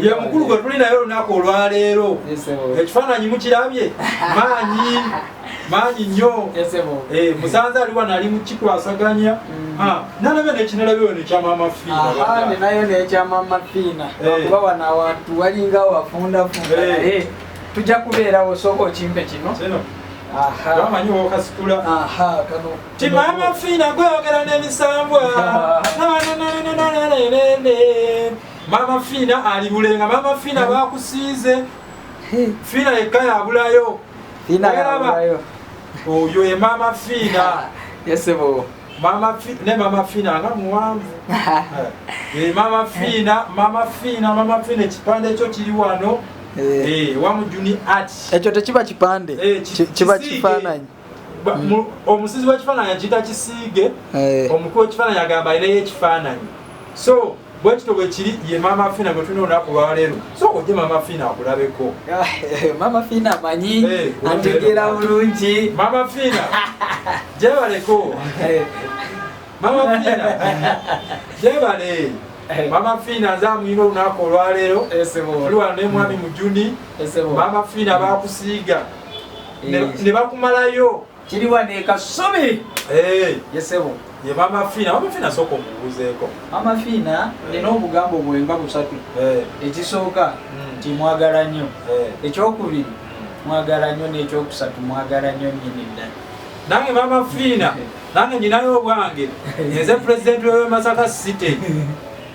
ye mukulu gwe tuli naye olunaku olwaleero ekifaananyi mukirabye maanyi maanyi nnyo eh, musanze ali wano ali mukikwasaganya mm. ah, nalabe nekinalabewo nekyamama fiinayo nekyamama fiina eh. kuba wano awantu walinga wafundafunda eh. naye tujja kubeerawo sooka okimpe kino amanyi wokasitula kano Kimama fina gwe ogera ne misambwa. Mama fina ali bulenga mama fina ba kusize. Fina ekaya abulayo. Fina abulayo. Oyo ye mama fina. Yesebo. Mama fina ne mama fina nga muwanvu. Eh, eh mama fina, mama fina, mama fina kipande kyo kiri wano. Eh, eh wamu juni art. Ekyo tekiba kipande. Eh, kiba kifananyi. omusizi w'ekifaananyi akiyita kisiige eh. omukulu w'ekifaananyi agamba alinayo ekifaananyi so bwekito bwekiri ye mama fina gwetulina olunaku lwaleero so oje mama fina akulabeko eh, mama fina manyi eh, ategeera bulungi mama fina jebaleko eh. mama fina jebale mama fina nze amuyina olunaku olwaleero tuliwano nemwami mujuni mama fina bakusiiga ne bakumalayo kiriwa ne kasubi eh yesebo ye mama fina mama fina soko mubuzeko mama fina nina obugambo bwemba busatu eh ekisooka hmm. ti mwagala nnyo eh. ekyokubiri hmm. mwagala nnyo n'ekyokusatu mwagala nnyo nyini ddala nange mama fina nange nyinayo obwange nze president wewe masaka city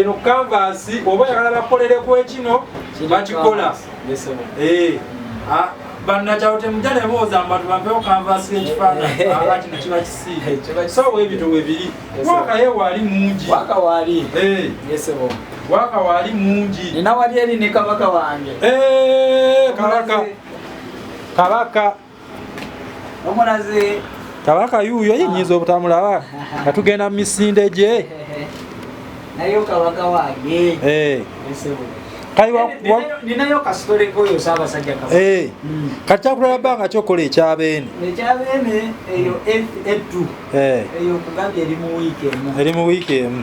eno kanvasi oba yagala bakolere kwekino bakikola banakyalo temuja nebooza mbatu bampewo kanvasi ekifaananyi kino kiba kisiige so webito webiri waka ye waali mungi waka waali eh. waka waali mungi nina wali eri ne kabaka wange eh, kabaka kabaka kabaka yuuyo yenyiza obutamulaba nga tugenda mu misinde gye nayo kabaka wange eh. ninayo kasitole koyo sabasajja kabaka eh. hmm. kati kyakulala banga kyokola ekyabeene ekyabeene eyo etu eh. eyo kugambye eri mu wiiki emu eri mu wiiki emu